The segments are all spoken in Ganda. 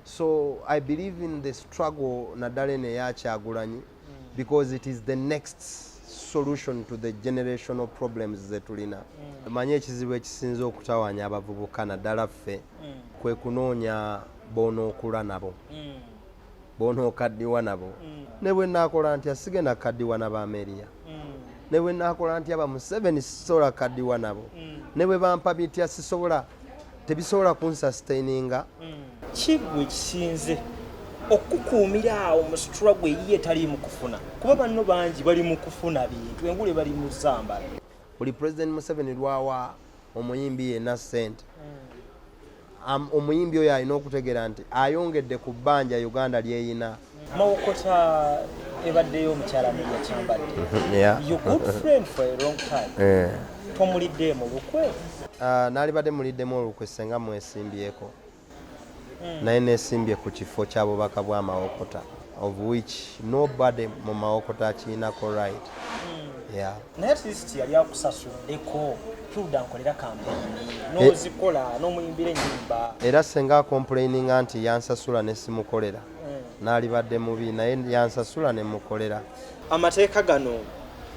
so i believe in the struggle naddala eno eyakyagulanyi mm. because it is the next solution to the generational problems zetulina mm. manyi ekizibu ekisinze okutawanya abavubuka naddala ffe mm. kwe kunoonya bonookula nabo bonookaddiwa nabo ne bwe naakola nti asigenda kukaddiwa nabameriya ne bwe nakola ntya bamuseveni sisobola kadiwa nabo mm. ne bwe bampa bitya sisobola tebisobola kunsustaininga mm. kigwe kisinze okukuumira awo mu struggle eyiye etaliimu kufuna kuba banno bangi bali mu kufuna bintu engule bali mu zambala buli president museveni lwawa omuyimbi yena sente mm. omuyimbi oyo alina okutegera nti ayongedde ku bbanja uganda lyeyina mawokota ebaddeyo omukyala media kyambadde you good friend for a long time eh. tomulidde mu lukwe ah, nalibadde muliddemu olukwe senga mwesimbyeko mm. naye nesimbye ku kifo kya bubaka bwa mawokota of which nobody mu mawokota akiinako right mm. yeah. naye atleast yali akusasuddeko tuda nkolera kampeyini eh. nozikola nomuyimbira enyimba era senga akomplaininga nti yansasula nesimukolera mm. nalibadde mubi naye yansasula nemukolera amateeka gano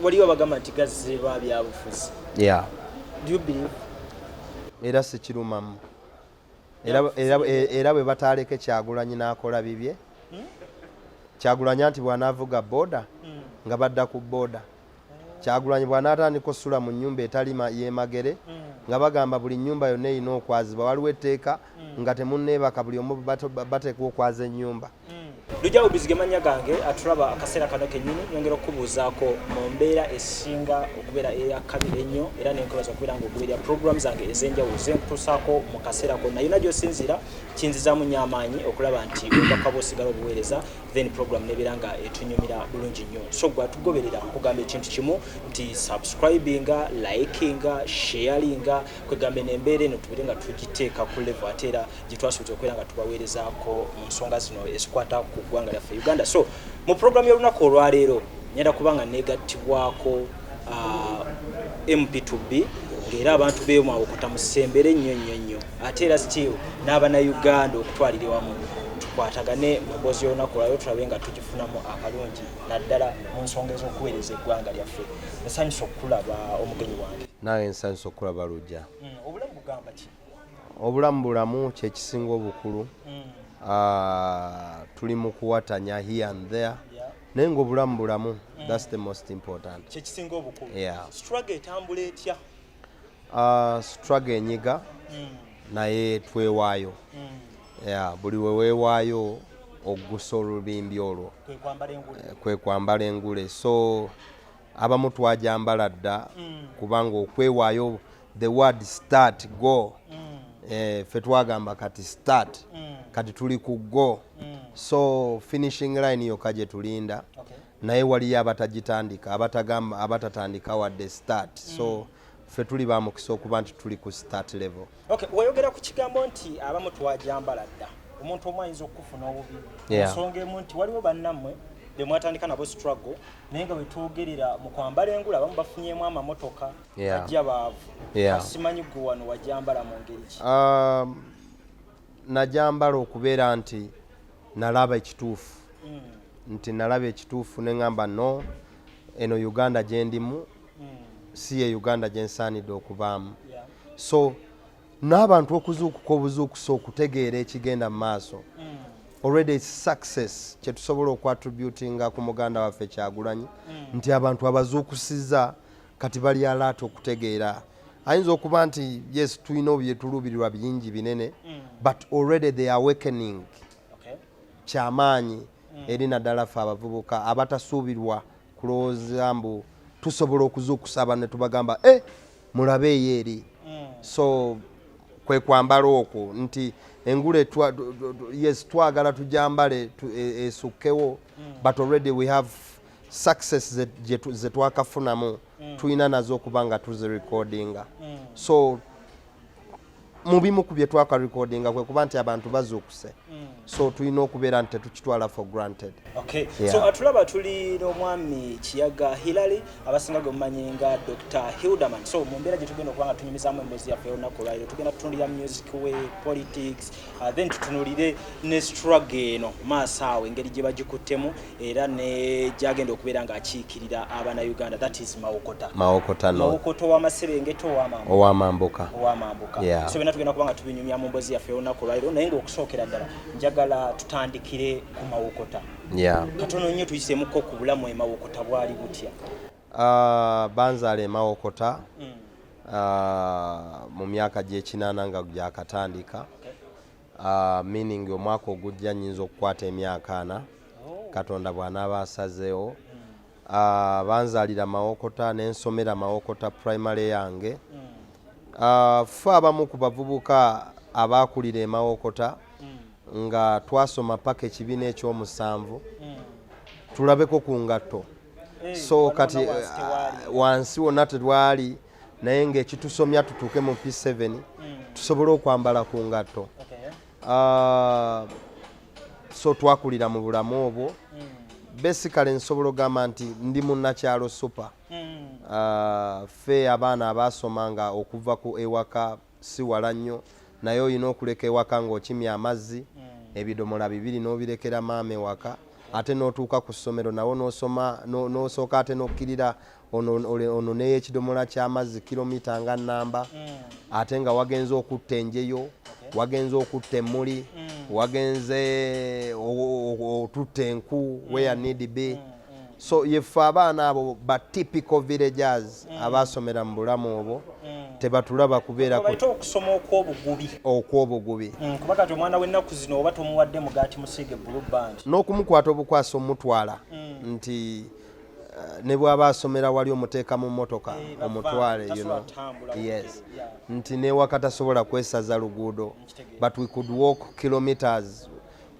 waliwo abagamba nti gazze lwa byabufuzi yeah. do you believe era sikirumamu era bwe bataaleke kyagulanyi n'akola bibye hmm? kyagulanya nti bw'anaavuga booda hmm. nga badda ku booda kyagulanyi bw'anaatandika osula mu nnyumba etali yemagere hmm. nga bagamba buli nnyumba yonna erina okwazibwa waliwo etteeka nga temunneebaka buli omu bateekwa okwaza ennyumba lujja bubizi ge mannya gange atulaba akaseera kano kennyini nyongera okukubuuzaako mu mbeera esinga okubeera eyakabi ennyo era nenkwebaza okubeera nga okubeera programu zange ez'enjawulo zenkutuusaako mu kaseera konna yonna gy'osinziira kinzizaamu nnyo amaanyi okulaba nti obubaka bwosigala obuweereza then programu nebeera nga etunyumira bulungi nnyo so gwe atugoberera kugamba ekintu kimu nti subscribinga likinga sharinga kwegambe nembeera eno tubeere nga tugiteeka ku levo ate era gye twasuubiza okubeera nga tubaweerezaako mu nsonga zino ezikwata ku ggwanga lyaffe uganda so mu pulogulaamu y'olunaku olwaleero ngenda kuba nga negattibwako ah, mp2b ng'era abantu beemwawokota mu ssembere ennyo nnyo nnyo ate era still n'abanauganda okutwalira wamu tukwatagane mu mboozi y'olunaku olwaleero tulabe nga tugifunamu akalungi naddala mu nsonga ez'okuweereza eggwanga lyaffe nsanyusa okukulaba omugenyi wange naye nsanyusa okukulaba lujja mm, obulamu bugamba ki obulamu bulamu kyekisinga obukulu mm. ah, tuli mukuwatanya here and there naye nga obulamu bulamu mm. thats the most important kyekisinga obukulu struggle etambula etya ah, struggle enyiga mm. naye twewaayo ya buli weweewaayo okugusa olubimbi olwo kwekwambala engule eh, so abamu twajambala dda mm. kubanga okwewaayo the word start go mm. eh, fe twagamba kati start mm. kati tuli ku go mm. so finishing line yokka gye tulinda okay. naye waliyo abatagitandika abatatandika wadde start mm. so ffe tuli ba mukisa okuba nti tuli ku start level okay wayogera ku kigambo nti abamu twajambala dda omuntu omu ayinza okukufuna obubi ensonga emu nti waliwo bannammwe be mwatandika nabo struggle naye nga wetwogerera mu kwambala engula abamu bafunyemu amamotoka ajja baavu asimanyi gwe wano wajambala mu ngeri ki um, najambala okubeera nti nalaba ekituufu mm. nti nalaba ekituufu neŋamba no eno uganda gyendimu hmm. si ye uganda gyensaanidde okubaamu so n'abantu okuzuukuka obuzuukusa okutegeera ekigenda mu maaso hmm. already its success kyetusobola okuattributinga ku muganda waffe kyagulanyi hmm. nti abantu abazuukusiza kati bali alaata okutegeera ayinza okuba nti yes tulina obyetuluubirirwa bingi binene but already the awakening kyamaanyi eri naddala ffe abavubuka abatasuubirwa kulowooza mbu tusobola okuzuukusa abantu ne tubagamba e eh, mulabe eyo eri mm. so kwe kwambala okwo nti engule yes twagala tujambale e, esukkewo mm. but already we have success ze twakafunamu mm. tulina nazo okuba nga tuzirecordinga so mu bimu ku bye twaka recordinga kwe kuba nti abantu bazuukuse mm. so tulina okubeera nti tetukitwala for granted okay. yeah. so atulaba tuli n'omwami kiyaga hillary abasinga gwe mumanyi nga dr hilderman so mu mbeera gye tugenda okuba nga tunyumizamu emboozi yaffe olunaku olwaliro tugenda tutunulira music we politics uh, then tutunulire ne struggle eno maaso awo engeri gye bagikuttemu era ne gyagenda okubeera ng'akiikirira abana uganda that is mawokota mawokota no mawokota ow'amaserengeta ow'amambuka ow'amambuka ow'amambuka yeah. so byonna tugenda kuba nga tubinyumya mu mbozi yaffe olunaku olwaliro naye ng'okusookera ddala njagala tutandikire ku mawokota yeah. katono nnyo tuyisemuko ku bulamu emawokota bwali butya uh, banzaala emawokota mm. uh, mu myaka gy'ekinaana nga gyakatandika okay. Ah, meaning omwaka ogujja nyinza okukwata emyaka ana oh. katonda bwanaaba asazeewo ah, banzalira mawokota nensomera mawokota primary yange hmm. ah, fe abamu ku bavubuka abaakulira emawokota hmm. nga twasoma paka ekibiina ekyomusanvu hmm. tulabeko ku ngatto eh, so kati wansi wonna tetwali naye ngaekitusomya tutuuke mu p7 mm. tusobole okwambala ku ngatto okay. uh, so twakulira mu bulamu obwo mm. basically nsobola ogamba nti ndi munnakyalo super mm. uh, fe abaana abaasoma nga okuva ku ewaka si wala nnyo naye olina okuleka ewaka ng'okimya amazzi mm. ebidomola bibiri n'obirekera maama ewaka ate n'otuuka ku ssomero nawo n'osoma n'osooka ate n'okkirira ono neyo ekidomola ky'amazzi kilomita nga nnamba mm. ate nga wagenze okutta enjeyo wagenze okutta emmuli mm. wagenze otutte enku weya need be so yeffe abaana abo ba typical villagers mm. abaasomera mu bulamu obwo mm. tebatulaba kubeera okusoma okwobugubi okwobugubi mm, kuba kati omwana w'ennaku zino oba tomuwadde mugaati musiige bulu band n'okumukwata obukwasa omutwala nti eh, ne bwaba asomera wali omuteeka mu mmotoka eh, omutwale yes nti newakatasobola kwesaza luguudo but we could walk kilometers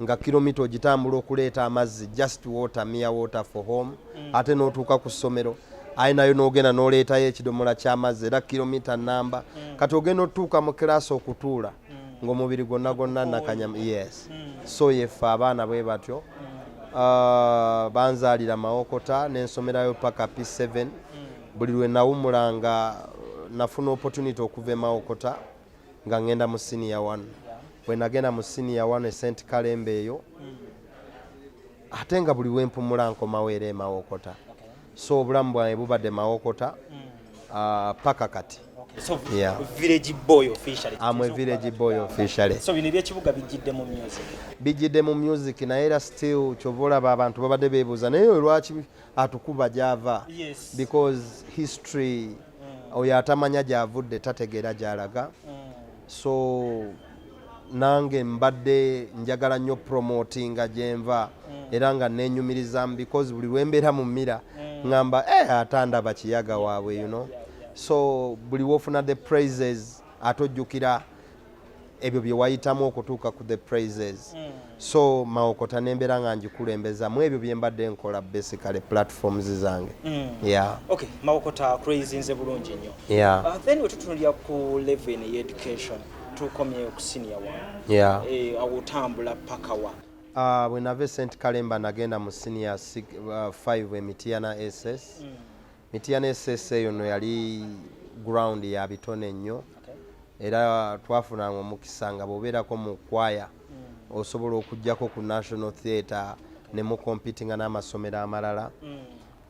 nga kilomita ogitambula okuleeta amazzi just water mere water for home mm. ate n'otuuka ku ssomero aye nayo n'ogenda n'oleetayo ekidomola ky'amazzi era kilomita namba mm. kati ogenda otuuka mu kiraasi okutuula mm. ng'omubiri gwonna gwonna nakanyama yes so yeffe abaana bwe batyo uh, banzaalira mawokota n'ensomerayo paka p7 buli lwe nawumulanga nafuna opportunity okuva emawokota nga ngenda mu siniya wanu bwe nagenda mu siniya wanu esenti kalembe eyo ate nga buli wempumula nkomawo era emawokota so obulamu bwange bubadde mawokota mm. ah, paka kati So, yeah. village boy officially. I'm a village boy officially. So bino ebyekibuga bijjidde mu music. Bijjidde mu music naye era still kyovola ba bantu babadde beebuuza naye lwaki atukuba gyava yes. because history mm. oyo atamanya gyavudde tategeera gyalaga mm. so nange mbadde njagala nnyo promotinga gyenva mm. era nga nenyumirizamu because buli lwembeera mu mira mm. ngamba eh, atandaba kiyaga waabwe you know so buli wofuna the praises ate ojjukira ebyo bye wayitamu okutuuka ku the praises mm. so mawokota nembeera nga ngikulembeza mu ebyo bye mbadde nkola basically platforms zange mm. yeah. okay. mawokota crazinze bulungi nnyo yeah. uh, then wetutunulira ku level in education tukomyeyo ku senior one yeah. eh, awutambula pakawa uh, bwenava esent kalemba nagenda mu senior 5 uh, emitiyana ss mm. Mityana esese eyo no yali ground ya bitone nnyo era twafunanga omukisa nga bwobeerako mu kwaya mm. osobola okujjako ku national theatre ne mukompitinga n'amasomero amalala mm.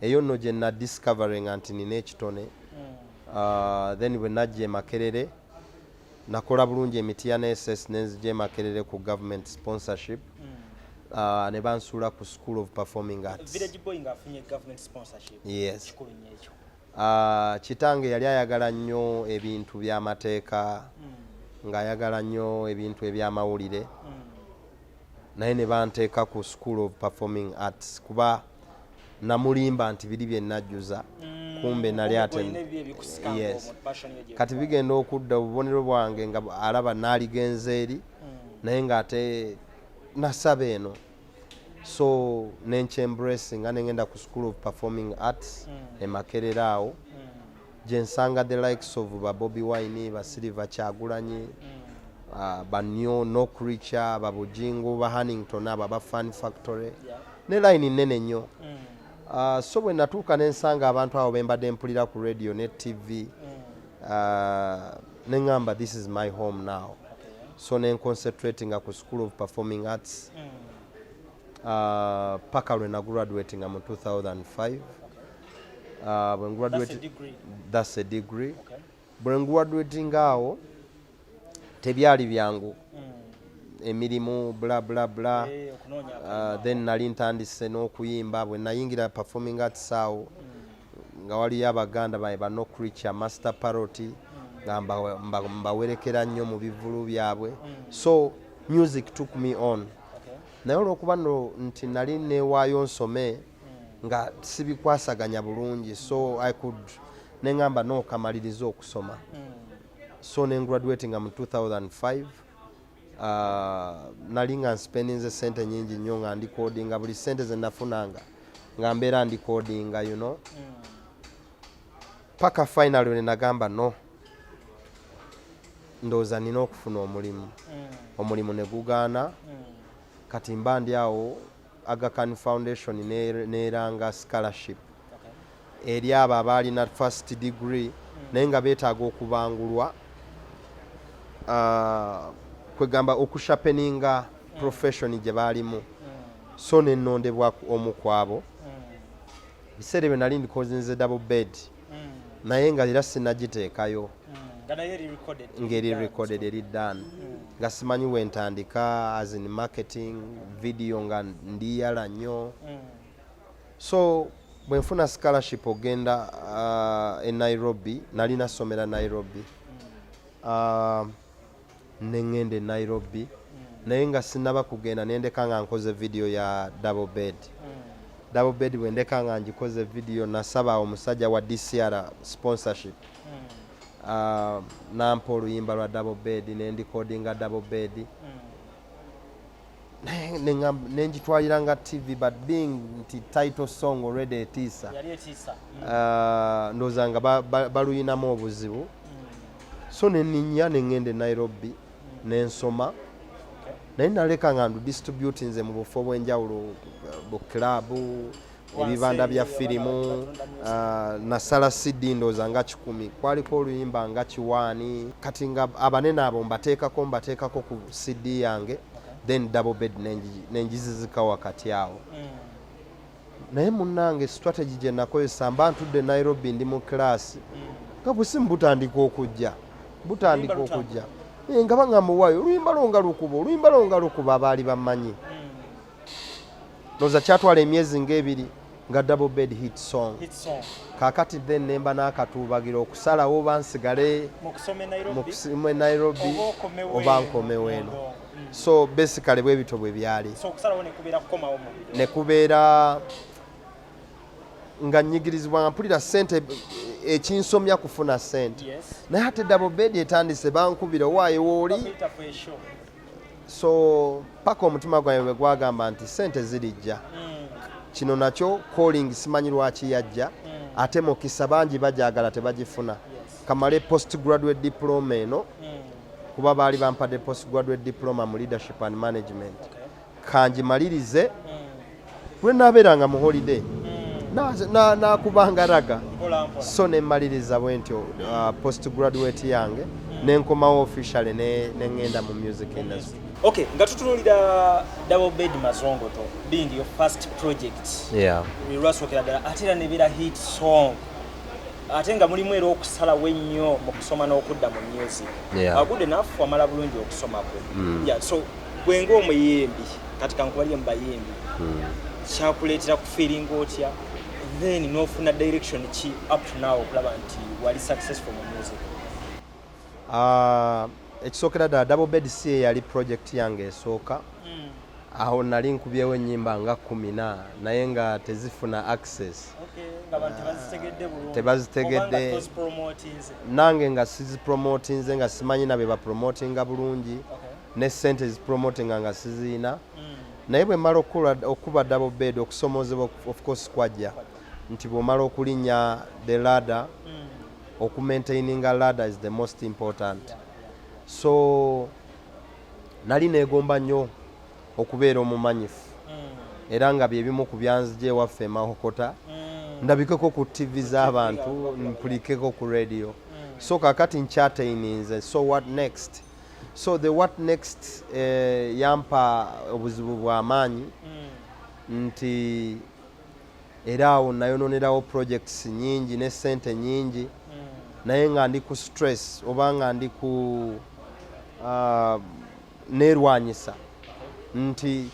eyo nno gye nadiscoveringa nti nina ekitone mm. uh, then bwe najja emakerere nakola bulungi emitiya ne ss nenzija emakerere ku government sponsorship mm. uh, ne bansuula ku school of performing arts yes. uh, kitange yali ayagala nnyo ebintu by'amateeka mm. ng'ayagala nnyo ebintu eby'amawulire mm. naye ne banteeka ku school of performing arts kuba namulimba nti biri bye najjuza mm, kumbe nali ate yes kati bigenda okudda obubonero bwange nga alaba naaligenza eri mm. naye ng'ate nasaba eno so nenkyembracing nga nengenda ku school of performing arts mm. emakerera awo gyensanga the likes of ba bobi wine ba silver kyagulanyi mm. ah, ba new no creature ba bujingo ba hannington aba ba fan factory ne line nene nnyo mm. ah, so bwe natuuka ne nsanga abantu abo bembadde mpulira ku radio ne tv mm. ah, ne ŋamba this is my home now so ne nconcentratinga ku school of performing arts paka lwe nagraduatinga mu 2005 bwe nguwaduwetinga awo tebyali byangu hmm. emirimu bla bla bla eh, uh, then nali ntandise n'okuyimba bwe nayingira performing arts awo hmm. nga waliyo abaganda baye ba no creature master parrot hmm. nga mbawerekera nnyo mu bivulu byabwe so music took me on naye olwokuba no nti nali newaayo nsome nga sibikwasaganya bulungi so i could nengamba nokamaliriza okusoma so nengraduatinga mu 2005 uh, nali nga nspendinze sente nyingi nnyo nga ndikodinga buli sente zenafunanga nga mbeera ndikodinga you know paka final wenagamba no ndowooza nina okufuna omulimu mm. omulimu negugaana mm. kati mba ndi awo Aga Khan Foundation n'eranga scholarship eri abo abaalina first degree naye nga beetaaga okubangulwa ah, kwegamba okushapeninga profession gye baalimu so nenondebwa omu kwabo biseera ebyo nali ndikozinze double bed mm. naye nga era sinagiteekayo mm. ngeri recorded eri dan mm. nga simanyi wentandika as in marketing video nga ndiyala nnyo mm. so bwenfuna scholarship ogenda uh, e nairobi nali nasomera nairobi mm. uh, ne ngenda e nairobi naye nga sinaba kugenda nendeka nga nkoze vidiyo ya double bed double bed bwendeka nga ngikoze vidiyo nasaba omusajja wa dcr sponsorship uh, nampa oluyimba lwa double bed nendikodinga double bed mm. nengitwalira nga tv but being nti title song already etiisa mm. uh, ndowooza nga baluyinamu obuzibu mm. so neninya nengenda e nairobi mm. nensoma naye naleka nga ndu distributinze mu bufo obwenjawulo bu club ebibanda bya firimu ah, nasala cd ndooza nga kikumi kwaliko oluyimba nga kiwaani kati nga abanene abo mbateekako mbateekako ku cd yange then double bed nenjizizika wakati awo mm. naye munange strategy gye nakozesa mba ntudde nairobi ndi mu class mm. nga busimu butandika okujja butandika okujja eh, nga baŋamuwayo oluyimba lwo nga lukuba oluyimba lwo nga lukuba abaali bamanyi mm. loza kyatwala emyezi ng'ebiri nga double bed hit song kakati then nemba n'akatuubagira okusalawo oba nsigale mu e nairobi oba nkomewo eno mm. so basically bwe bityo bwe byali ne kubeera nga nyigirizibwa nga mpulira sente ekinsomya kufuna sente naye ate double bed etandise bankubira owaayo wooli so paka omutima gwange bwe gwagamba nti sente zirijja mm. kino nakyo calling simanyi lwaki yajja mm. ate mukisa bangi bajagala tebagifuna kamale post graduate diploma eno mm. kuba baali bampadde post graduate diploma mu leadership and management kangimalirize hmm. lwe nabeeranga mu holiday hmm. nakubanga raga so nemaliriza bwentyo uh, post graduate yange hmm. nenkomawo officially nengenda mu music industry okay nga tutunulira double bed mazongoto being your first project yeah lwasokera ddala ate era nebeera hit song ate nga mulimu era okusalawo ennyo mu kusoma n'okudda mu music yeah. good enough wamala bulungi okusoma kwe mm. yeah, so gwe ng'omuyimbi kati kankubalire mu bayimbi hmm. kyakuleetera kufiiringa otya then n'ofuna direction ki up to now okulaba nti wali successful mu music ah, ekisookera ddala double bed si eyali project yange esooka hmm. awo nali nkubyewo ennyimba nga kumina naye nga tezifuna access tebazitegedde nange nga sizipromotinze nga simanyi nabe bapromotinga bulungi okay. ne sente zipromotinga nga sizirina mm. naye bwe mmala okukuba double bed okusomoozebwa of course kwajja nti bw'omala okulinnya the ladder mm. okumaintaininga ladder is the most important so nali neegomba nnyo okubeera omumanyifu mm. era nga bye bimu ku byanzija ewaffe emahokota mm. ndabikeko ku ttivi z'abantu mpulikeko ku radio so kakati nkyateininze so what next so the what next eh, yampa obuzibu bwamaanyi mm. nti era awo nayononerawo projects nyingi ne sente nyingi mm. naye nga ndi ku stress oba nga ndi ku uh, ah, nerwanyisa nti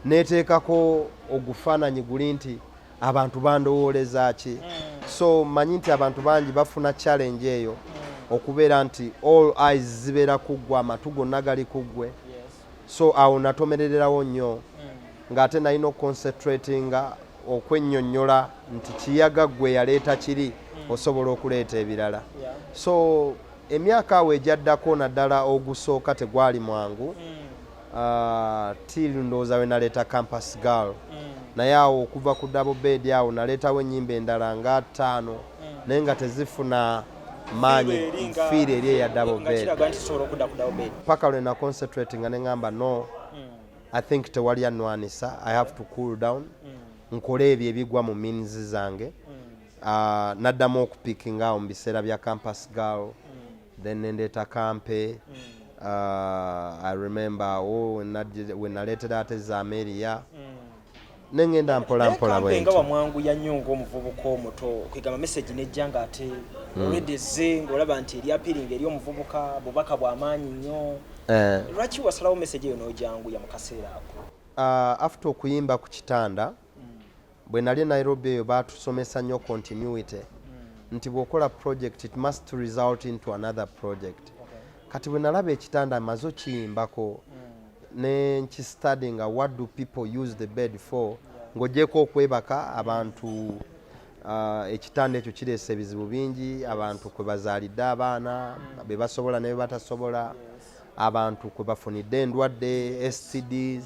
neteekako ogufaananyi guli nti abantu bandowooleza ki so manyi nti abantu bangi bafuna challenge eyo okubeera nti all eyes zibeera kuggwe amatu gonna gali kuggwe so awo natomerererawo nnyo mm. ng'ate nalina okuconcentratinga okwennyonnyola nti kiyaga ggwe yaleeta kiri mm. osobola okuleeta ebirala so emyaka awo egyaddako naddala ogusooka tegwali mwangu mm. Ah, till ndowooza we naleeta campus girl mm. naye awo okuva ku double bed awo naleetawo ennyimba endala nga ttaano mm. naye nga tezifuna maanyi fiiri eri eya double bed paka lwe na concentrate nga neŋamba no mm. i think tewali anwanisa i have to cool down nkole ebyo ebigwa mu means zange uh, naddamu okupickinga awo mu biseera bya campus girl mm. then nendeeta kampe mm. uh, i remember awo oh, wenaleetera ate zameria mm. nengenda mpola mpola bwenga wamwangu yanyo ngaomuvubuka omuto kwegamba message nejja nga ate mm. olwedde ezze ngaolaba nti eri apiringa eri omuvubuka bubaka bwamaanyi nnyo eh. lwaki wasalawo message eyo nojanguya mu kaseera ako uh, after okuyimba ku kitanda bwe nali e nairobi eyo baatusomesa nnyo continuity hmm. nti bw'okola project it must result into another project kati bwe nalaba ekitanda mazo kiyimbako hmm. ne nkistady nga what do people use the bed for ng'ogyeko okwebaka abantu uh, ekitanda ekyo kireesa ebizibu bingi abantu kwe bazaalidde abaana hmm. be basobola ne be batasobola abantu kwe bafunidde endwadde stds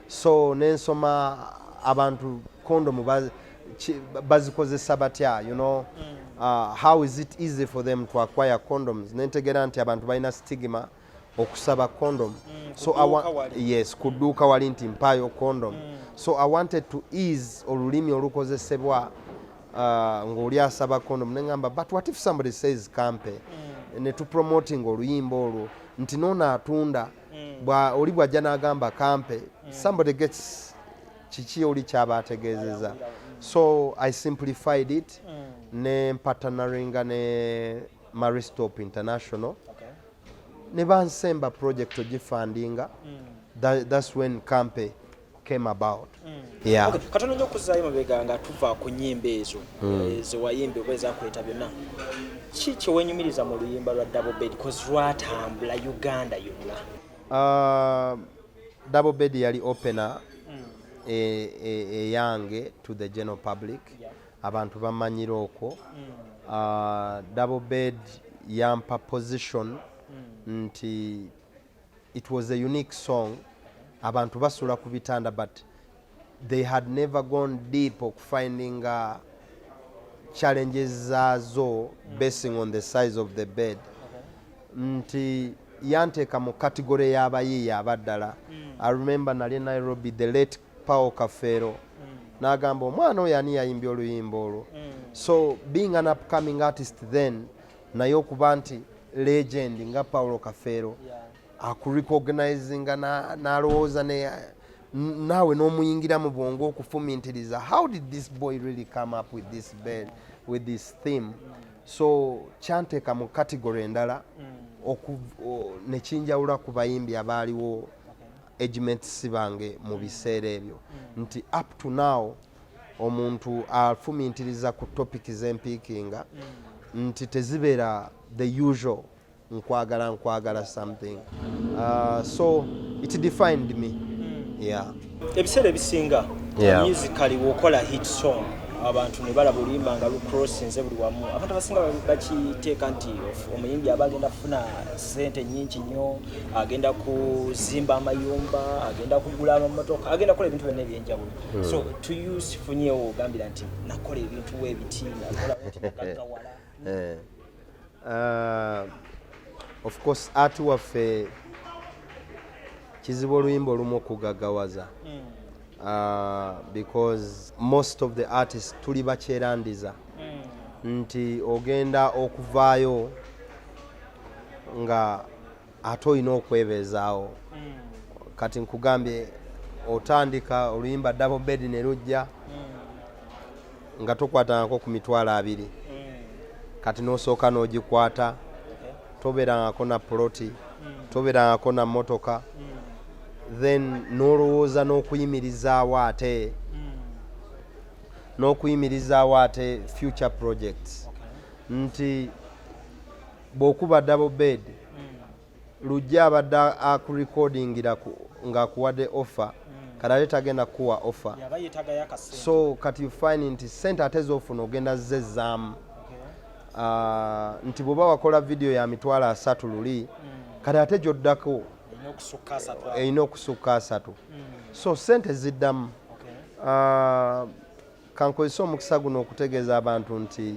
so nensoma abantu kondomu bazikozesa batya you know mm. uh, how is it easy for them to acquire condoms nentegera nti abantu balina stigma okusaba condom mm, so yes kuduuka wali nti mpaayo condom mm. so i wanted to ease olulimi olukozesebwa uh, ng'oli asaba condom neŋamba but what if somebody says kampe mm. netupromoting oluyimba olwo nti noona atunda mm. mm. bwa oli bwajja n'agamba kampe mm. somebody gets kiki oli kyaba ategeezeza so i simplified it mm. ne mpatanaringa ne maristop international okay. ne bansemba project ogifandinga mm. That, that's when kampe came about mm. yeah. okay. katono nyo kuzayo mabega nga tuva ku nyimba ezo mm. Eh, ze wayimba oba ezakuleta byonna ki kyewenyumiriza mu luyimba lwa double bed bcause lwatambula uganda yonna uh, double bed yali opener mm. eyange e, e, e to the general public yeah. abantu bamanyira okwo mm. uh, double bed yampa position mm. nti it was a unique song abantu basula ku bitanda but they had never gone deep okufinding uh, challenges zaazo basing on the size of the bed nti yanteeka mu kategore y'abayiiya abaddala mm. i remember nali nairobi the late paul kafeero mm. n'agamba omwana oyo ani yayimbye oluyimba olwo mm. so being an upcoming artist then naye okuba nti legend nga paulo kafeero akurecognizinga nalowooza naawe n'omuyingira mu bwongo okufumintiriza how did this boy really come up with this bed with this theme so kyanteeka mu category endala mm. nekinjawula ku bayimbi abaaliwo agements bange mu biseera ebyo mm. nti up to now okay. omuntu afumintiriza ku topic zempiikinga mm. nti tezibeera the usual nkwagala nkwagala something uh, so it defined me mm. yeah ebiseera ebisinga yeah. musically wokola hit song abantu ne balaba oluyimba nga lucrossinze buli wamu abantu abasinga bakiteeka nti omuyimbi aba agenda kufuna sente nyingi nnyo agenda kuzimba amayumba agenda kugula amamotoka agenda kukola ebintu byonna ebyenjawulo hmm. so to use funyewo ogambira nti nakola ebintu webiti nakolawala eh. uh, of course art waffe kizibu oluyimba olumu okugagawaza hmm. uh, because most of the artists tuli bakyerandiza hmm. nti ogenda okuvaayo nga ate olina okwebeezaawo mm. kati nkugambye otandika oluyimba dabo bedi ne lujja mm. nga tokwatanako ku mitwalo abiri mm. kati nosooka n'ogikwata tobeerangako na poloti tobeerangako na motoka then nolowooza n'okuyimirizaawo ate n'okuyimirizaawo ate future projects nti bwokuba double bed mm. lujja abadde akurecordingira ngaakuwadde offer mm. kati ate tagenda kukuwa offer so kati you find nti sente ate zofuna ogenda zezaamu okay. uh, nti bwoba wakola vidiyo ya mitwalo asatu luli mm. kati ate gyoddako erina okusukka asatu mm. so sente ziddamu okay. uh, Kankozese omukisa guno okutegeeza abantu nti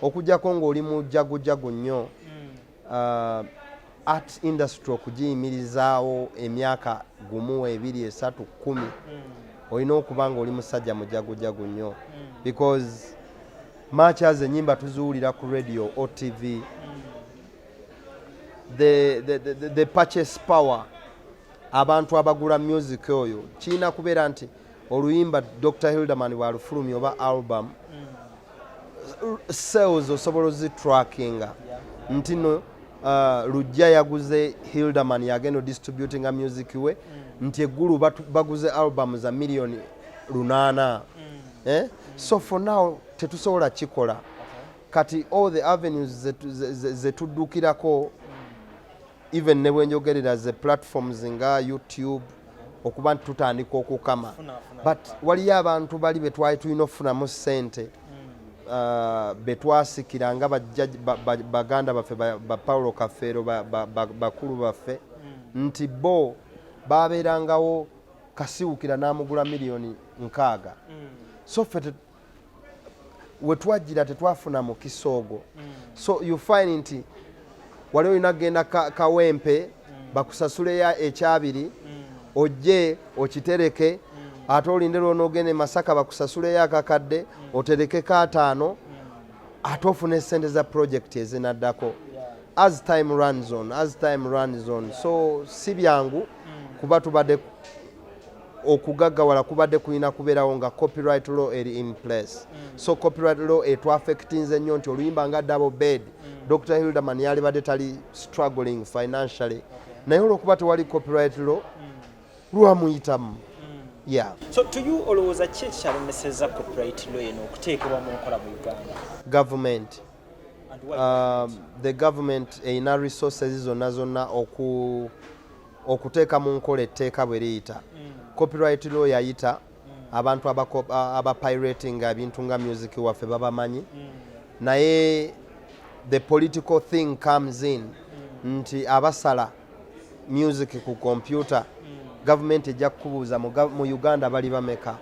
okujjako ng'oli mujagujagu nnyo hmm. uh, art industry okugiyimirizaawo emyaka gumu ebiri esatu kumi hmm. olina okuba ng'oli musajja mujagujagu nnyo hmm. because maachaz ennyimba tuziwulira ku radio otv the, the, the, the purchase power abantu abagula music oyo kirina kubeera nti oluyimba dr hilderman bwalufulumya oba album mm. sales osobola ozitrackinga nti no uh, lujja yaguze hilderman yagenda odistributinga music we mm. nti eggulu baguze album za millioni lunaana mm. eh? so for now tetusobola kikola kati all the avenues zetuddukirako even ne bwenjogerera ze platforms nga youtube okuba nti tutandika okukama but waliyo abantu bali betwali tulina okufunamu sente hmm. uh, betwasikira nga baganda baffe ba paulo kafeero bakulu baffe hmm. nti bo babeerangawo kasiwukira n'amugula miliyoni nkaaga hmm. so ffe wetwajjira tetwafuna mukisa ogwo mm. so you find nti wali olina kugenda kawempe mm. bakusasuleyo ekyabiri mm. ojje okitereke ate olinde lwona ogende masaka bakusasuleyo akakadde oterekeko ataano ate ofuna esente za purojekiti ezinaddako as time runs on as time runs on so si byangu kuba tubadde okugaggawala kubadde kulina kubeerawo nga copyright law eri in place mm. so copyright law etwafectinze nnyo nti oluyimba nga double bed mm. dr hilderman yalibadde tali struggling financially naye olwokuba tewali copyright law mm. lwamuyitamu yeah. so to you olowooza ki ekyalemeseza copyright law eno okuteekebwa mu nkola mu uganda government um, the government erina resources zonna zonna oku okuteeka mu nkola etteeka bwe liyita mm. copyright law yayita mm. abantu abapiratinga ebintu nga music waffe babamanyi mm. naye the political thing comes in nti abasala music ku kompyuta gavumenti ejja kukubuuza mu uganda bali bameka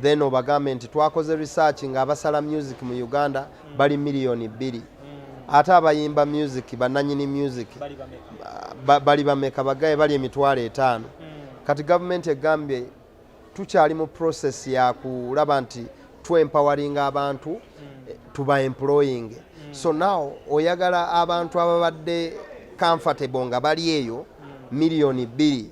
then obagambe nti twakoze research nga abasala music mu uganda bali miliyoni bbiri mm. ate abayimba music bananyini music bali bameka bagaye bali emitwalo etaano mm. kati gavumenti egambye tukyali mu process ya kulaba nti twempowering abantu mm. eh, tuba employing so now oyagala abantu ababadde comfortable nga bali eyo miliyoni bbiri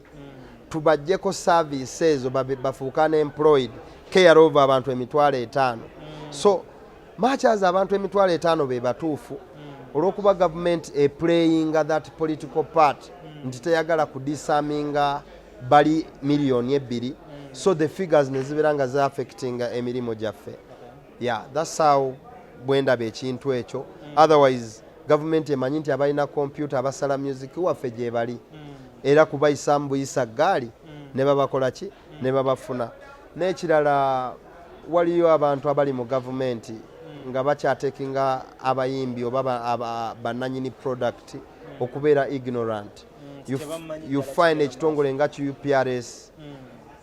tubajjeko service ezo bafuuka ne employed care over abantu emitwalo etaano so machaza abantu emitwalo etaano be batuufu hmm. olwokuba gavumenti eplayinga that political part hmm. nti teyagala kudisaminga bali miliyoni ebbiri hmm. so the figures nezibeera nga zaaffectinga emirimu gyaffe ya thats how bwendaba ekintu ekyo otherwise gavumenti emanyi nti abalina kompyuta abasala music waffe gyebali era kubayisaamu buyisa ggaali ne babakola ki ne babafuna n'ekirala waliyo abantu abali mu gavumenti nga bakyatekinga abayimbi oba bananyini product okubeera ignorant mm, you find ekitongole nga ki uprs mm.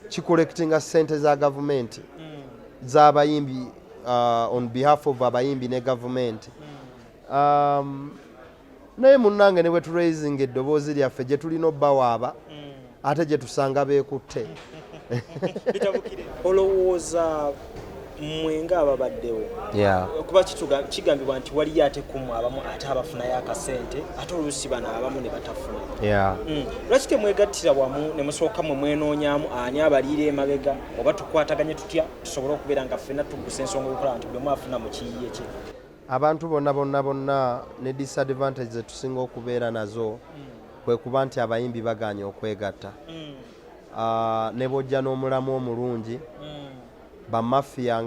kikolectinga sente za gavumenti mm. z'abayimbi uh, on behalf of abayimbi ne gavumenti um, naye munnange ne bwe turaisinga eddoboozi lyaffe gye tulina obbawaaba mm. ate gye tusanga beekutte olowooza mwe ngaababaddewo kuba kigambibwa nti waliyo ate kumu abamu ate abafunayo akasente ate oluusi bano abamu ne batafuna mm. lwaki temwegattira wamu ne musooka mwe mwenoonyamu ani abaliira emabega oba tukwataganye tutya tusobole okubeera nga ffena tuggusa ensonga okukola nti buli omu afuna mu kiyiye kye abantu bonna bonna bonna ne disadvantage zetusinga okubeera nazo mm. kwe kuba nti abayimbi baganye okwegatta mm. ah, ne bwojja n'omulamu omulungi mm. bamafiya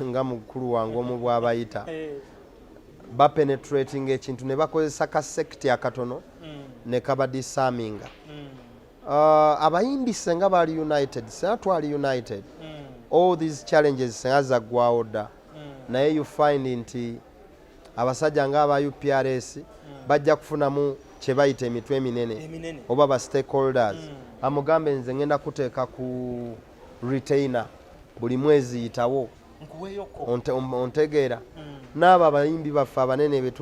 nga mukulu wange omu bwabayita eh. bapenetrating ekintu ne bakozesa ka sekiti akatono ne kabadisaminga ah, abayimbi senga bali united senga twali united all these challenges senga zaggwawo dda naye you find nti abasajja nga aba uprs mm. bajja kufunamu kyebayita emitwe eminene oba ba stakeholders mm. amugambe nze ngenda kuteeka ku retainer buli mwezi yitawo ontegeera mm. n'abo abayimbi baffe abanene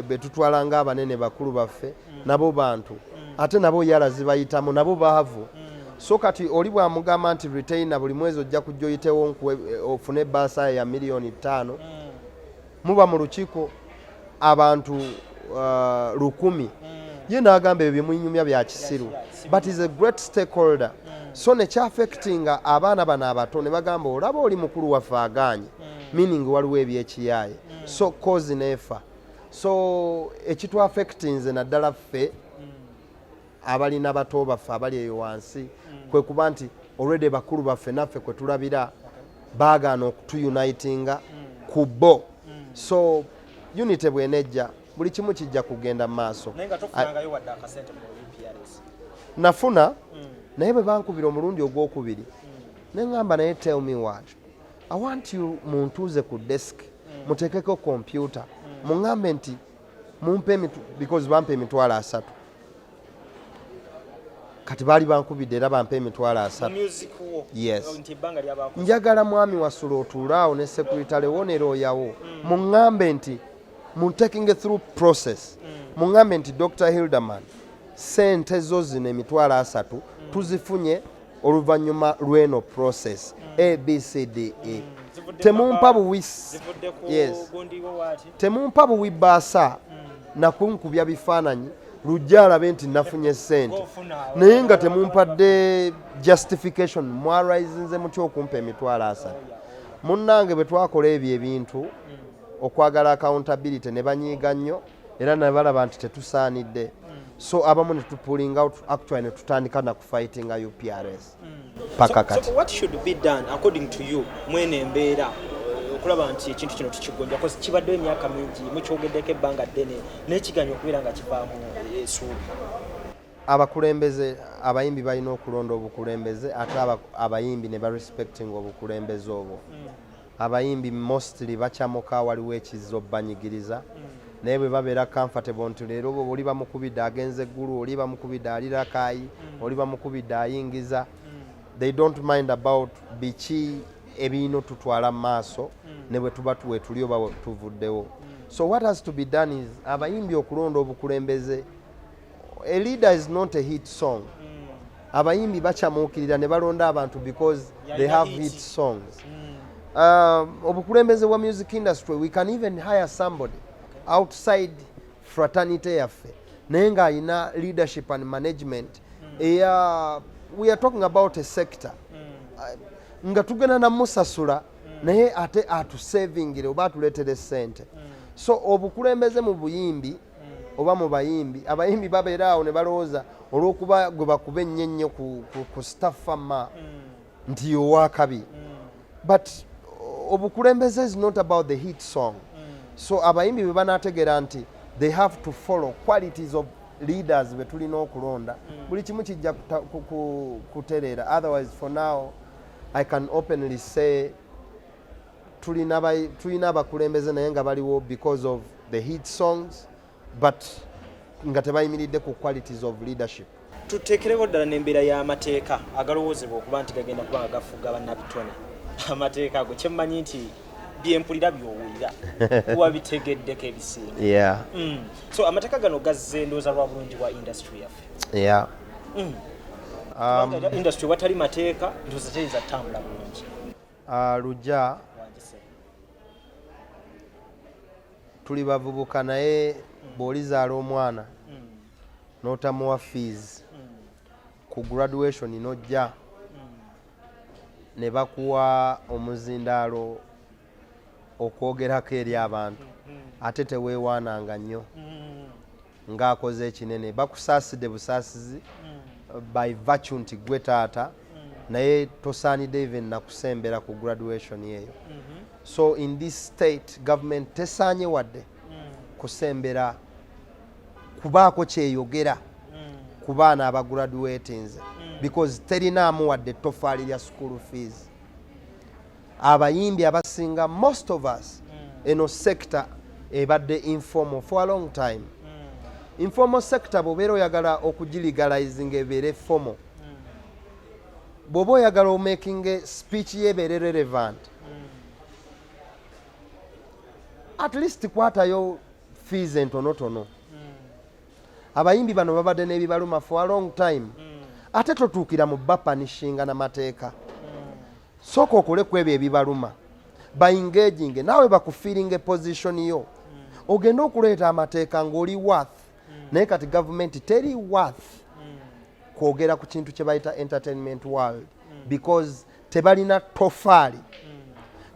betutwala nga abanene bakulu baffe nabo bantu ate nabo yala zibayitamu nabo baavu so kati oli bwamugamba nti retaina buli mwezi ojja kujja oyitewo nkuwe eh, ofune ebaasa ya miliyoni ttaano muba mu lukiiko abantu uh, lukumi ye n'agamba ebyo byemunyumya bya kisiru but is a great stakeholder so nekyafectinga abaana bano abato ne bagamba olaba oli mukulu waffe agaanye meaning waliwo ebyekiyaaye so cause neefa so ekitu affectinze naddala ffe abalina bato baffe abali eyo wansi kwe kuba nti olwedde bakulu baffe naffe kwe tulabira baagaana okutuyunitinga ku bo so unity bwenejja buli kimu kijja kugenda mu maaso nafuna naye bwe bankubira omulundi ogwokubiri ne ŋŋamba naye tell me what I want you muntuuze ku desk mm. muteekeko kompyuta mm. muŋambe nti mumpe emitu because bampa emitwalo asatu kati baali bankubidde era bampa emitwalo asatu yes njagala mwami wasula otuulaawo ne sekuritale wo ne looyawo mm. muŋambe nti mu taking through process mm. muŋambe nti dr hilderman sente zo zino emitwalo asatu mm. tuzifunye oluvannyuma lw'eno process mm. abcde mm. temumpa buwi yes. temumpa buwi baasa mm. nakunkubya bifaananyi lujja alabe nti nafunye sente naye nga temumpadde justification mwarisinze mutya okumpa emitwalo asatu munnange bwe twakola ebyo ebintu okwagala accountability ne banyiiga nnyo era nabalaba nti tetusaanidde so abamu netupulinga actually netutandika fighting a UPRS mm. paka kati so, so what should be done according to you mwene embeera okulaba nti ekintu kino tukigonja kozi kibadde emyaka mingi mukyogeddeko ebbanga ddene naye kiganya okubeera nga kivaamu esuubi abakulembeze abayimbi balina okulonda obukulembeze ate abayimbi ne barespecting obukulembeze obwo mm. Abayimbi mostly bacamuka waliwo ekizza obbanyigiriza mm. naye bwe babeera comfortable nti leero oli bamukubidde agenze eggulu oli bamukubidde ali rakaayi mm. oli bamukubidde ayingiza mm. they don't mind about biki ebiino tutwala mu maaso mm. ne bwe tuba wetuli oba tuvuddewo so what has to be done is abayimbi okulonda obukulembeze a leader is not a hit song mm. abayimbi bacamuukirira ne balonda abantu because yeah, they have hit songs mm. uh, obukulembeze bwa music industry we can even hire somebody okay. outside fraternity yaffe naye ng'alina leadership and management mm. eya we are talking about a sector mm. uh, nga tugenda namusasula mm. naye ate atusevingire oba atuleetere sente mm. so obukulembeze mu buyimbi oba mu bayimbi abayimbi babeera awo ne balowooza olw'okuba gwe bakuba ennyo ennyo ku staffama mm. nti owakabi mm. but obukulembeze is not about the hit song mm. so abayimbi bwe banategeera nti they have to follow qualities of leaders be tulina okulonda buli kimu kijja kutereera otherwise for now i can openly say tulina abakulembeze naye nga baliwo because of the heat songs but nga tebayimiridde ku qualities of leadership tuteekerewo ddala n'embeera y'amateeka agalowoozebwa okuba nti gagenda kuba nga gafuga bannabitone amateeka ago kyemmanyi nti byempulira byowulira wabitegeddeko ebisinga yeah. mm. so amateeka gano gazze endooza lwa bulungi bwa industry yaffe yeah. mm. um, industry watali mateeka ndooza teyinza tutambula bulungi Ah, lujja tuli bavubuka naye bw'olizaala omwana n'otamuwa fees ku graduation n'ojja ne bakuwa omuzindaalo okwogerako eri abantu ate teweewaananga nnyo ng'akoze ekinene bakusaaside busaasizi hmm. by virtue nti gwe taata hmm. naye tosaanidde even nakusembera ku graduation eyo mhm. so in this state government tesaanye wadde hmm. kusembera kubaako kyeyogera ku baana abagraduatinze because terinaamu wadde ettofaali lya school fees abayimbi abasinga most of us mm. eno sector ebadde informal for a long time mm. informal sector bwobeera oyagala okugiligalizing ebeere formal mm. bwoba oyagala omaking speech yebeere relevant mm. at least kwatayo fees entonotono mm. abayimbi bano babadde nebibaluma for a long time mm. ate totuukira mu bapanishinga namateeka mm. sooka okole ku ebyo ebibaluma baingaginge naawe bakufiiringa eposition yo hmm. ogende okuleeta amateeka ng'oli worth hmm. naye kati gavumenti teri worth hmm. kwogera ku kintu kye bayita entertainment world because tebalina tofaali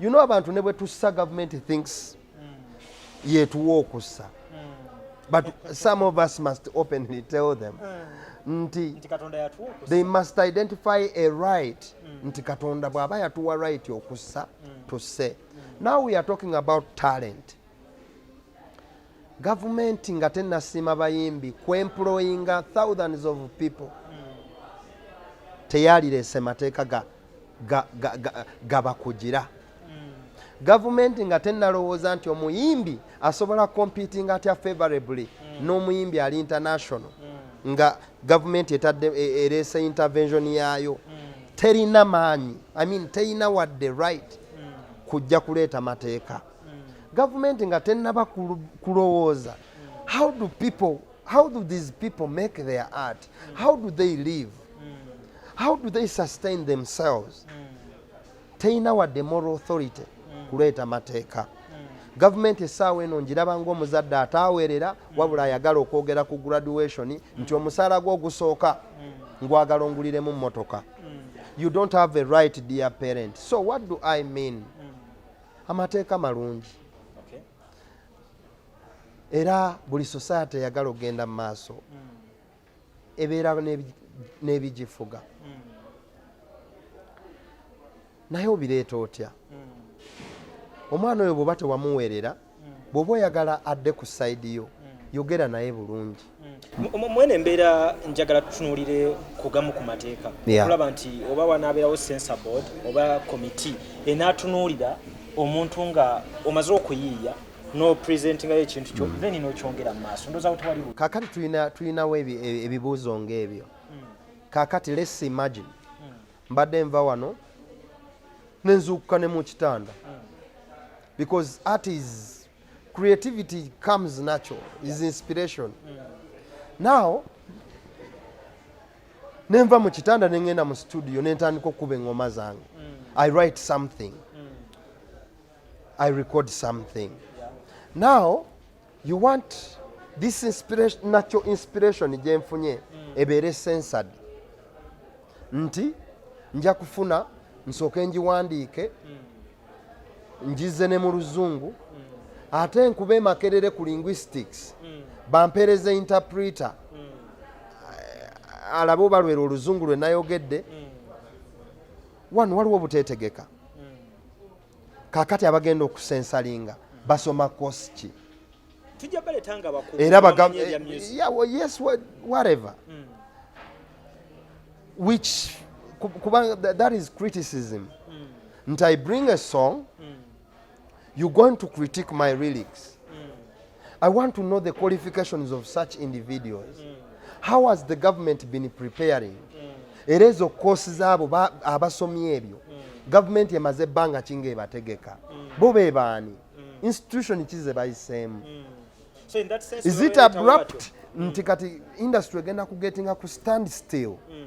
you know abantu ne bwe tussa gavumenti thinks yetuwa okussa but some of us must openly tell them nti they must identify a right mm. nti katonda bw'aba yatuwa right okussa mm. tusse mm. now we are talking about talent gavumenti nga tenasiima bayimbi kwemployinga thousands of people teyalireese mateeka ga gabakugira ga, ga, ga gavumenti nga tenalowooza nti omuyimbi asobola competing atya favorably mm. n'omuyimbi ali international mm. nga gavumenti etadde e, erese intervention yaayo mm. terina maanyi i mean terina wadde right mm. kujja kuleeta mateeka mm. gavumenti nga tenaba kulowooza mm. how do people How do these people make their art? How do they live? How do they sustain themselves? Teyina wadde moral authority kuleeta mateeka. gavumenti essaawa eno ngiraba ngaomuzadde ataawerera wabula ayagala okwogera ku graduation nti omusaala gwe ogusooka ngwagala onguliremu mmotoka you don't have a right dear parent so what do i mean amateeka malungi era buli society eyagala okugenda mu maaso ebeera n'ebigifuga naye obireeta otya omwana oyo bwoba tewamuweerera bwoba oyagala adde ku sayidi yo yogera naye bulungi Mm. mwene embeera njagala tutunulire kugamu ku mateeka okulaba nti oba wanaabeerawo sensor board oba komiti enaatunulira omuntu nga omaze okuyiiya no presentinga ye kintu kyo mm. then no kyongera maso ndoza kuti wali kakati tuina tuina we e, ebibuzo ngebyo mm. kakati let's imagine mm. mbadde nva wano nenzukuka ne mu kitanda mm. because art is creativity comes natural is inspiration now nenva mu kitanda nengenda mu studio nentandika okukuba eŋoma zange mm. i write something mm. i record something now you want this inspiration, natural inspiration gyenfunye mm. ebeere censored nti nja kufuna nsooke ngiwandiike njize ne mu luzungu ate nkuba emakerere ku linguistics mm. bampereza interpreter mm. alabe obalwera oluzungu lwe nayogedde mm. wano waliwo obutetegeka kakati abagenda okusensalinga basoma kosi ki era whatever which kuba that is criticism nti i bring a song mm. you going to critique my relics mm. i want to know the qualifications of such individuals mm. how has the government been preparing mm. era ezo koosi zaabo abasomye ebyo mm. gavumenti emaze ebbanga kinga ebategeka mm. bo be baani mm. institution ki ze bayiseemu mm. so is it abrupt mm. nti kati industry egenda kugetinga ku stand still mm.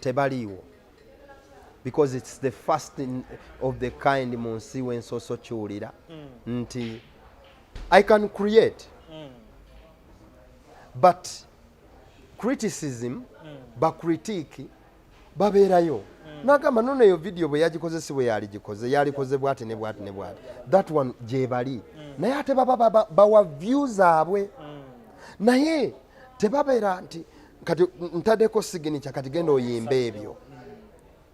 tebaliiwo because its the first in, of the kind mu nsi wensoso kiwulira mm. nti i can create mm. but criticism mm. bacritique babeerayo mm. nagamba nono eyo vidiyo bwe yagikoze si bwe yaligikoze yalikoze bwati ne bwati ne bwati that one gyebali mm. naye ate baba bawa view zaabwe mm. naye tebabeera nti kati ntadeko signature kati genda oyimbe ebyo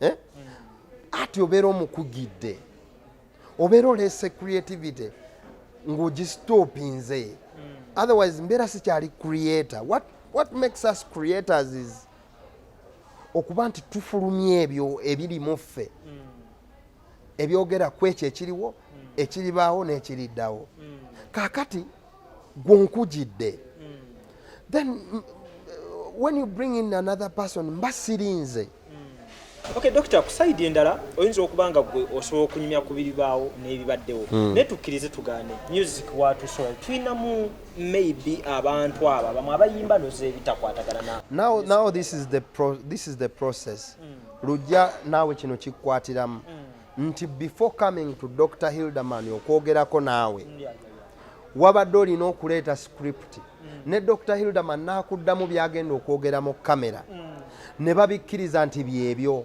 eh? ati obeera omukugidde obeera oleese creativity ng'ogistopinze hmm. otherwise mbeera sikyali creator what, what makes us creators is okuba nti tufulumya ebyo ebirimu ffe hmm. ebyogera ku ekyo ekiriwo ekiribaawo n'ekiriddawo mm. kakati gwonkugidde mm. then mm, when you bring in another person mba sirinze Okay, doctor kusaidi endala oyinza okuba nga gwe osobola okunyumya ku biribaawo n'ebibaddewo mm. naye tukkirize tugaane music watusobola tulinamu maybe abantu aba bamwe abayimba nozeebitakwatagana now, now this is the, pro this is the process mm. lujja naawe kino kikukwatiramu mm. nti before coming to dr hilderman okwogerako naawe wabadde olina okuleeta script mm. ne dr hilderman naakuddamu byagenda okwogera mu kamera mm. ne babikkiriza nti byebyo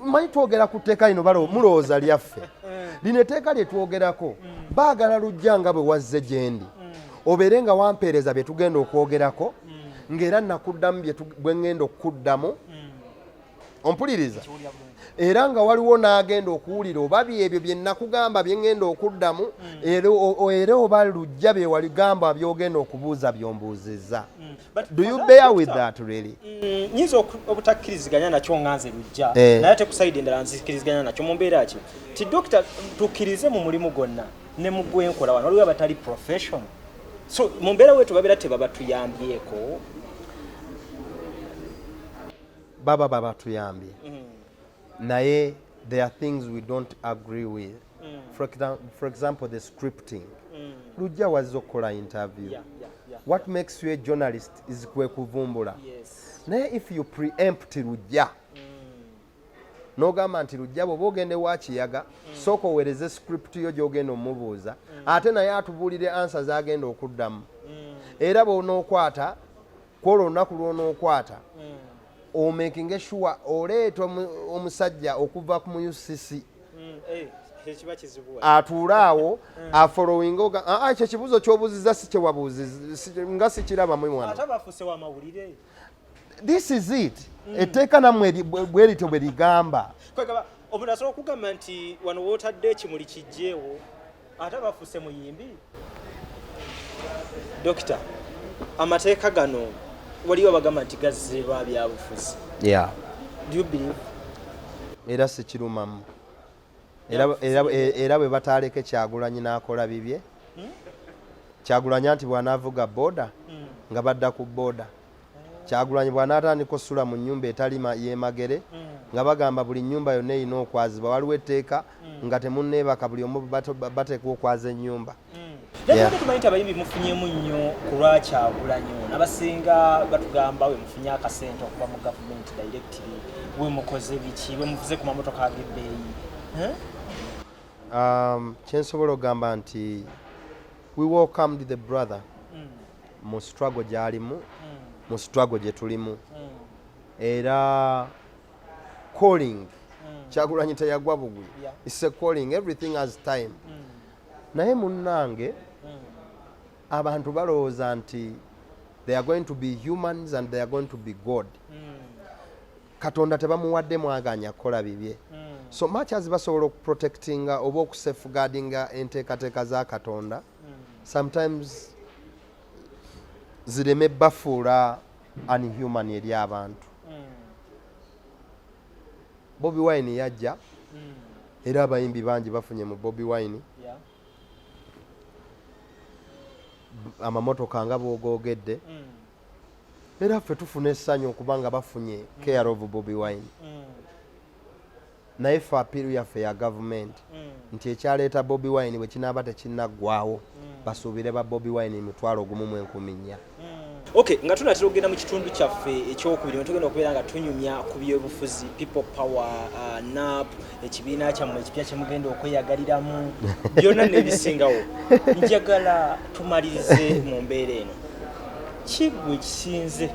manyi twogera ku tteeka lino balo mulowooza lyaffe eh. lino etteeka lye twogerako baagala lujja nga bwe wazze gyendi obeere nga wampeereza bye tugenda okwogerako ng'era nakuddamu bwe ŋŋenda okukuddamu ompuliriza era nga waliwo n'agenda okuwulira oba byebyo bye nakugamba bye ŋŋenda okuddamu mm. era oba lujja bye waligamba byogenda okubuuza byombuuzizza mm. do you bear with that really mm, nyinza obutakkiriziganya nakyo nga nze lujja eh. naye ate kusaidi endala nzikkiriziganya nakyo mu mbeera ki ti dokita tukkirize mu mulimu gwonna ne mu gwenkola wano waliwo abatali professional so mu mbeera wetu babeera tebabatuyambyeko baba babatuyambye mm. naye there are things we don't agree with mm. for, for example the scripting mm. lujja wazza okukola interview yeah, yeah, yeah, what yeah. makes you a journalist is kwekuvumbula yes. naye if you preempt lujja mm. nogamba nti lujja bwoba ogenda ewa kiyaga mm. sooka owereze script yo gyogenda omubuuza mm. ate naye atubuulire ansa zagenda okuddamu mm. era bwonokwata kwolwo olunaku lwonokwata omakinge sure oleeta omusajja okuva ku mu ucc eh, atuule awo afolowinga oga ah, ah, ekyo ekibuuzo kyobuuziza sikyewabuuziza nga sikirabamu mwana this is it mm. etteeka namwe bwe lityo bwe ligamba omuntu asobola okugamba nti wano wootadde ekimuli kijjeewo ate abafuuse muyimbi dokita amateeka gano waliwo abagamba nti gazze lwa byabufuzi era sikirumamu era bwe bataaleke kyagulanyi n'akola bibye hmm? kyagulanyi nti bw'anaavuga booda hmm. nga badda ku booda kyagulanyi bwanaatandika osula mu nyumba etalima yemagere mm. nga bagamba buli nyumba yonna erina okwazibwa waliwo etteeka mm. nga temuneebaka buli omu bateekwa okwaza enyumba mm. tumanyi ti abayimbi mufunyemu nnyo kulwa kyagulanyi nabasinga batugamba we mufunye akasente okuva mu gavumenti directly we mukoze biki we muvuze ku mamotoka ag'ebbeeyi um, kyensobola okugamba nti we welcomed the brother mu struggle gyalimu hmm. mu struggle gye tulimu hmm. era calling hmm. kyagulanyi teyagwa bugwi its a calling everything has time naye munnange abantu balowooza nti they are going to be humans and they are going to be god katonda tebamuwadde mwaganya kukola bibye so much as basobola okuprotectinga oba okusafeguardinga enteekateeka za katonda sometimes zireme bafuula unhuman eri abantu hmm. bobi wine yajja hmm. era abayimbi bangi bafunye mu bobi wine amamotoka nga bwogoogedde hmm. era ffe tufuna essanyu okubanga bafunye care of bobi wine naye fe apiiru yaffe ya gavumenti mm. nti ekyaleeta bobi wine bwe kinaaba tekinaggwawo mm. basuubire ba bobi wine mitwalo ogumu mu enkumi nnya mm. ok nga tunatera okugenda mu kitundu kyaffe ekyokubiri ne tugenda okubeera nga tunyumya ku byobufuzi people power uh, nap ekibiina kyammwe ekipya kyemugenda okweyagaliramu byonna nebisingawo njagala tumalirize mu mbeera eno kigwe kisinze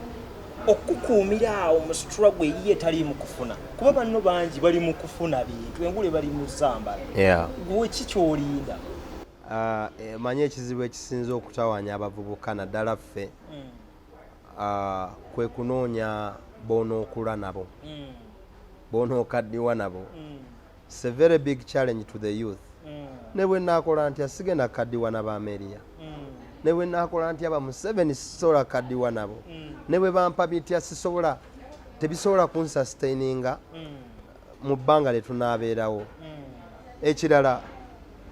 okukuumira awo mu struggle eyiye tali mu kufuna kuba banno bangi bali mu kufuna bintu engule bali mu zambala gwe ki kyolinda ah, eh, manye ekizibu ekisinza okutawanya abavubuka naddala ffe hmm. ah, kwe kunoonya bonookula nabo hmm. bonookaddiwa nabo hmm. It's a very big challenge to the youth. Mm. Ne bwe nakola ntya sigenda kadiwa na bameria. Mm. Ne bwe nakola ntya ba Museveni sisobola kadiwa nabo. Mm. Ne bwe bampa bitya sisobola tebisobola kun sustaininga mm. mu bbanga lye tunaabeerawo. Mm. Ekirala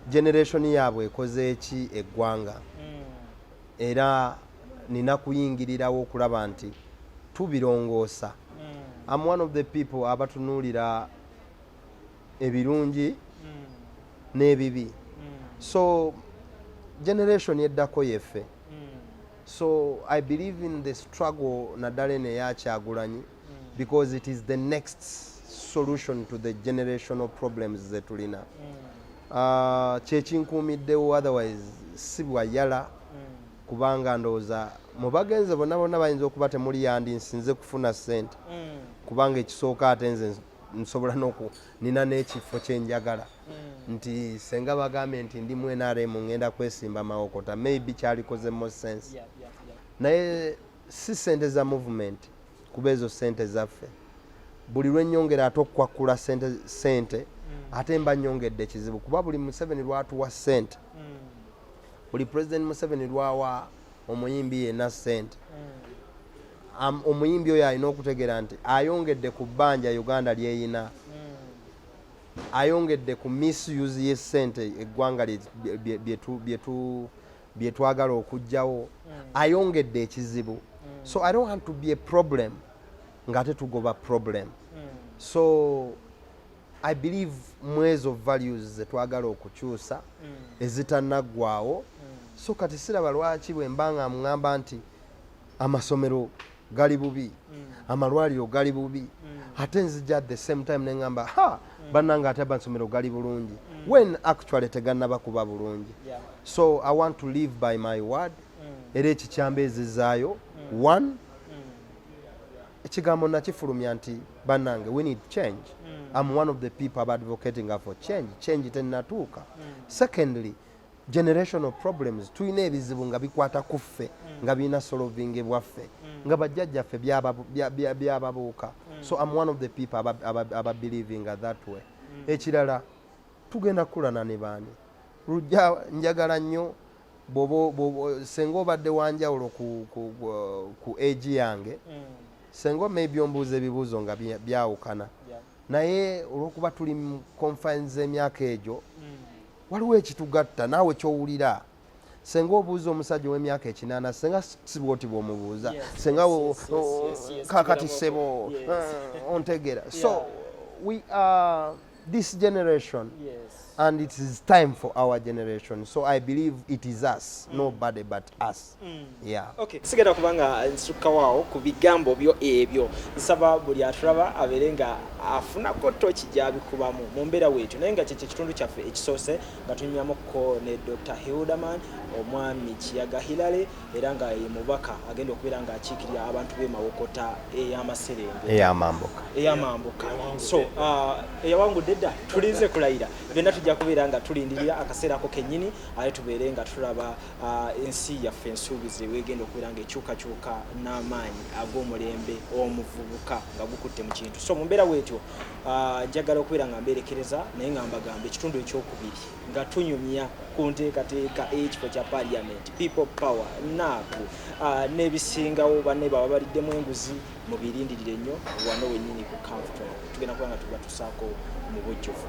generation yaabwe ekoze eki eggwanga. Mm. Era nina kuyingirirawo okulaba nti tubirongoosa. Mm. I'm one of the people abatunuulira ebirungi mm. n'ebibi mm. so generation eddako yeffe mm. so i believe in the struggle naddala eno eyakyagulanyi mm. because it is the next solution to the generational problems zetulina mm. uh, kyekinkuumiddewo otherwise si bwayala mm. kubanga ndowooza mubagenze bonna bonna bayinza okuba temuli yandi nsinze kufuna sente mm. kubanga ekisooka ate nze nsobola noku nina n'ekifo kyenjagala mm. nti senga bagambye nti ndi mwenaremu ngenda kwesimba mawokota maybe kyalikoze mo sense yeah, yeah, yeah. naye si sente za movement kuba ezo sente zaffe buli lwenyongera ate okukwakkula sente, sente mm. ate mba nyongedde kizibu kuba buli museveni lwatuwa sente mm. buli president museveni lwawa omuyimbi yenna ssente mm. omuyimbi oyo alina okutegeera nti ayongedde ku bbanja uganda lyeyina mm. ayongedde ku misuse yessente eggwanga byetwagala okugjawo mm. ayongedde ekizibu so i don't want to be a problem ngaate tugoba problem so i believe mwezo values zetwagala okukyusa mm. ezitanaggwawo mm. so kati siraba lwaki bwe mba nga mugamba nti amasomero gali bubi mm. amalwaliro gali bubi mm. ate nzija the same time nengamba ha mm. bananga ate amasomero gali bulungi mm. when actually teganaba kuba bulungi yeah. so i want to live by my word mm. era ekikyamba ezizaayo mm. one mm. ekigambo nakifulumya nti banange we need change mm. am one of the people aba advocating for change change tenatuuka mm. secondly generational problems tulina ebizibu nga bikwata ku ffe mm. nga birina solovinge bwaffe mm. nga bajjajjaffe byababuuka mm. so am one of the people ababelieving aba that way mm. ekirala tugenda kukulana ne baani lujja njagala nnyo senga obadde wanjawulo ku, ku, ku, ku age yange mm. senga maybe ombuuza ebibuuzo nga byawukana yeah. naye olwokuba tuli mu confines z'emyaka egyo mm. waliwo ekitugatta naawe kyowulira senga obuuza omusajja ow'emyaka ekinaana senga sibwoti bwomubuuza yes, senga yes, yes, yes, yes, kakati sebo yes. uh, ontegera so yeah. we are this generation yes. and it is time for our generation so i believe it is us mm. nobody but us mm. yeah okay sigenda kubanga nsuka wao ku bigambo byo ebyo nsaba buli aturaba abere nga afuna ko tochi jabi kubamu mu mbera wetu naye nga kye kitundu kyaffe ekisose nga tunyamo ko ne dr hilderman omwami kiyaga hilale era nga ye mubaka agenda okubeera nga akiikirira abantu b'e Mawokota ey'amaserenge ey'amambuka ey'amambuka so uh, eyawangudde dda tulinze kulayira byonna tujja kubeera nga tulindirira akaseera ako kennyini aye tubeere nga tulaba uh, ensi yaffe ensuubize wegenda okubeera nga ekyukakyuka n'amaanyi ag'omulembe omuvubuka nga gukutte mu kintu so mu mbeera weetyo uh, njagala okubeera nga mbeerekereza naye nga mbagamba ekitundu ekyokubiri nga tunyumya ku nteekateeka ey'ekifo kya parliament people power naaku uh, n'ebisingawo banne baba baliddemu enguzi mubirindirire nnyo wano wennyini ku camfton tugenda kuba nga tuba tusaako mu bujjuvu